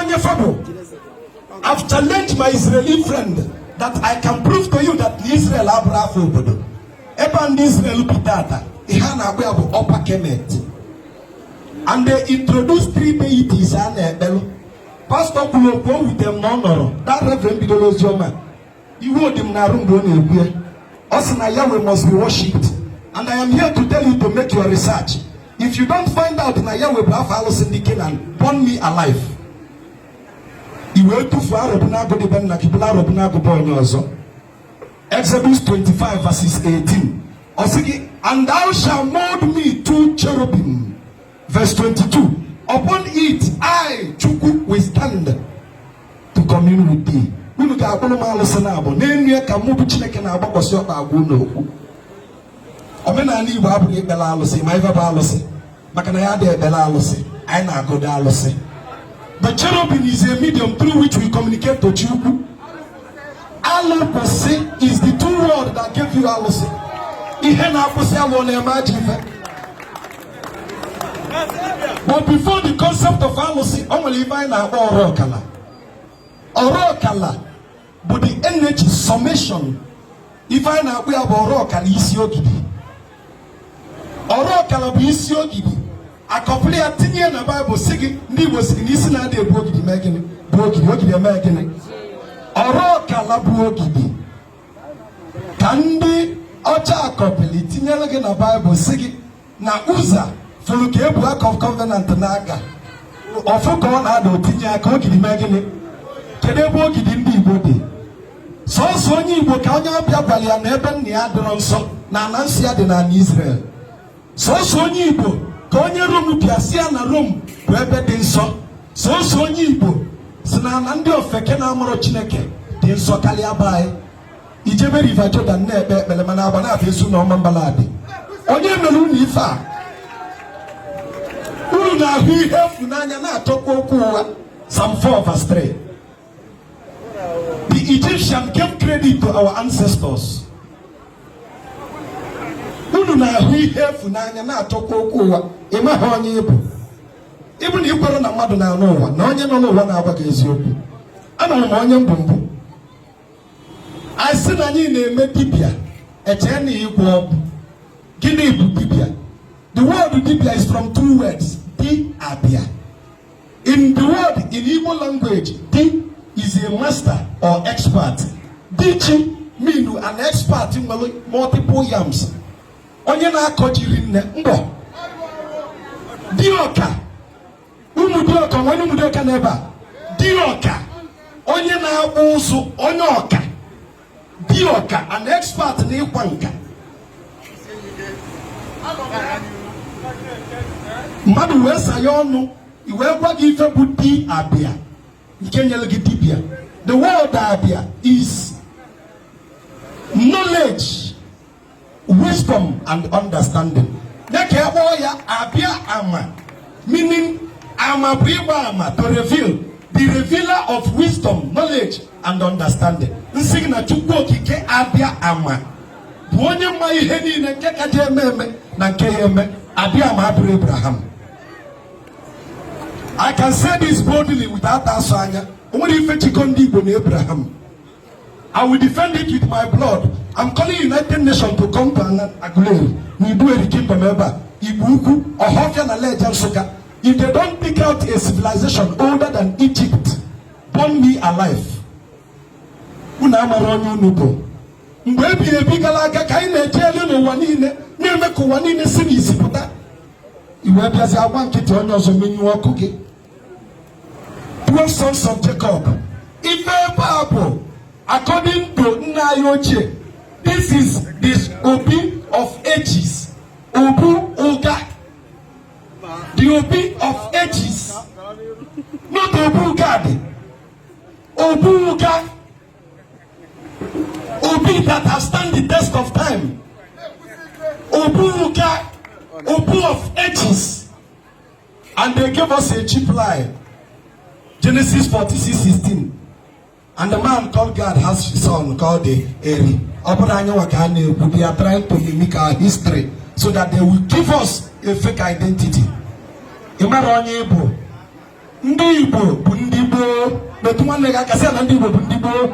onye fa bụ I've challenged my Israeli friend that I can prove to you that Israel abụrọ afa obodo ebe a ndị Israel bi tata ihe a na-akpọ ya bụ upper kemet and they introduced three deities a na-ekpelụ pastọ kwuru okwu o wute m na ọ nọrọ that reverend bidoro oziọma iwe dị m n'arụ mgbe ọ na-ekwu ya ọ sị na Yahweh must be worshipped and I am here to tell you to make your research if you don't find out na Yahweh bụ afa alụsị ndị Kenan burn me alive i wee tufuo Arọbụnagụ dị be nna gị bulu Arọbụnagụ be onye ọzọ Exodus 25 verses 18 ọ sị gị and thou shalt mold me two cherubim Verse 22 Upon it I, Chukwu, will stand to commune with thee. Unu ga-akpụrụ m alụsị naabọ n'elu ya ka mụ bụ Chineke na-agbakwasị ọkpa agwa unu okwu. Omenanị Igbo abụghị ikpere alụsị ma ife bụ alụsị maka na anyị adịghị ekpere alụsị anyị na-agọdị alụsị. The cherubim is a medium through which we communicate to Chukwu. Alụ kwụsị is the two words that gave you alụsị. Ihe na-akwụsị alụ na-eme ajọ ife. but before the concept of alụsị o nwere ife anyị na-akpọ ọrụ ọkala ọrụ ọkala bụ the energy summation ife anyị na-akpọ ya bụ ọrụ ọkala isi ogidi ọrụ ọkala bụ isi ogidi a kọpịlị ya tinye na baịbụl sị gị ndị igbo sị gị na isi na-adị ebu ogidi mee gịnị bụ ogidi ogidi eme gịnị ọrụ ọkala bụ ogidi ka ndị ọcha kọpịlị tinyere gị na baịbụl sị gị na Uzzah fụrụ ka e bu Ark of Covenant na-aga ọ fụ ka ọ na-ada o tinye aka ogidi mee gịnị kedu ebe ogidi ndị igbo dị sọsọ onye igbo ka onye ọbịa gwara ya na ebe nna ya adịrọ nsọ na ana nsọ ya dị n'anị Israel sọsọ onye igbo ka onye rom bịa sị ya na rom bụ ebe dị nsọ sọsọ onye igbo sị na ana ndị ofeke na-amarọ chineke dị nsọ karịa be anyị i jebe River Jordan na-ekpe ekpere mana Agbanabọ Ezu na Ọmambala adị onye mere unu ife a unu na-ahụ ihe efu n'anya na-achọkwa okwu ụgha Psalm 4 verse 3 The Egyptian gave credit to our ancestors. Unu na-ahụ ihe efu n'anya na-achọkwa okwu ụgha ị maghị onye ị bụ ị bụ na i kwere na mmadụ na-anụ ụwa na onye nọ n'ụwa na-agwa gị eziokwu anarọ m ama onye m bụ mbụ anyị sị na anyị na-eme dibịa e chee na ịgwọ ọgwụ gịnị bụ dibịa the word dibịa is from two words di abịa In the word in Igbo language, di is a master or expert. Diji mean an expert nwere multiple yams. Onye na-akọ ji rinne mbọ. Diọka. Ụmụ diọka nwere ụmụ diọka n'ebe a. Diọka. Onye na-akpụ ụzụ onye ọka. di ọka an expert n'ịkwa nka mmadụ wee saa ya ọnụ e wee gwa gị ife bụ di abịa nke nyere gị dibịa the word abịa is knowledge wisdom and understanding dịka ya kpọọ ya abịa ama meaning ama bụ ịgba ama to reveal the revealer of wisdom knowledge and understanding nsị gị na chukwu okike abịa ama bụ onye ma ihe niile nke ka je eme eme na nke ya eme abịa ama abụrụ abraham i can say this boldly without asọ anya o nwerọ ife jikọ ndị igbo na abraham I will defend it with my blood. I'm calling United Nations to come to Aguleri, n'Iduu Eri Kingdom ebe a, Igbo Ukwu, Ọhafịa na Lejja Nsụka. If they don't pick out a civilization older than Egypt, burn me alive. Unu amara onye unu bụ. Mgbe ebighị ebi gara aga ka anyị na-eje elu n'ụwa niile na-eme ka ụwa niile si n'isi pụta. I wee bịazi agba nkịtị onye ọzọ menyụọ ọkụ gị. 12 sons of Jacob ife ebe a bụ according to nna anyị ochie this is the obi of ages obu ụga the obi of ages not obu gad obu ụga obi that has stand the test of time obu ụga obu of ages And they gave us a cheap lie. Genesis 46 16. And the man called Gad has his son called Eri. They are trying to mimic our history so that they will give us a fake identity. Ị mara onye ị bụ. Ndị Igbo bụ ndị gboo. Metụ nwanne gị aka sị na ndị Igbo bụ ndị gboo.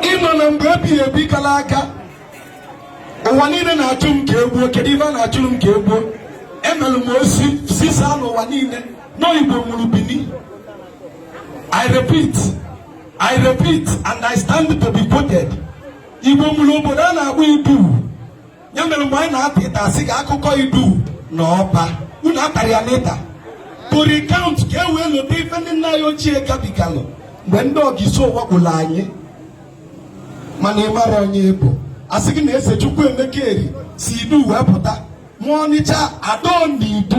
Ị nọ na mgbe ebighị ebi gala aga ụwa niile na-achụ m ka e gbuo kedu ife a na-achụrụ m ka e gbuo emelụ m ozi zisaa n'ụwa niile na igbo mụrụ bini i repeat i repeat and i stand to be quoted igbo mụrụ obodo a na-akpọ idu ya mere mgbe anyị na-ata ita a sị ka akụkọ idu na ọba unu atara ya n'ita to recount ka e wee lota ife ndị nna anyị ochie gabigalụ mgbe ndị ogiso wakporo anyị mana ị mara onye ị bụ a sị gị na eze chukwuemeka eri si idu wee pụta mụọ ọnịcha ado n'idu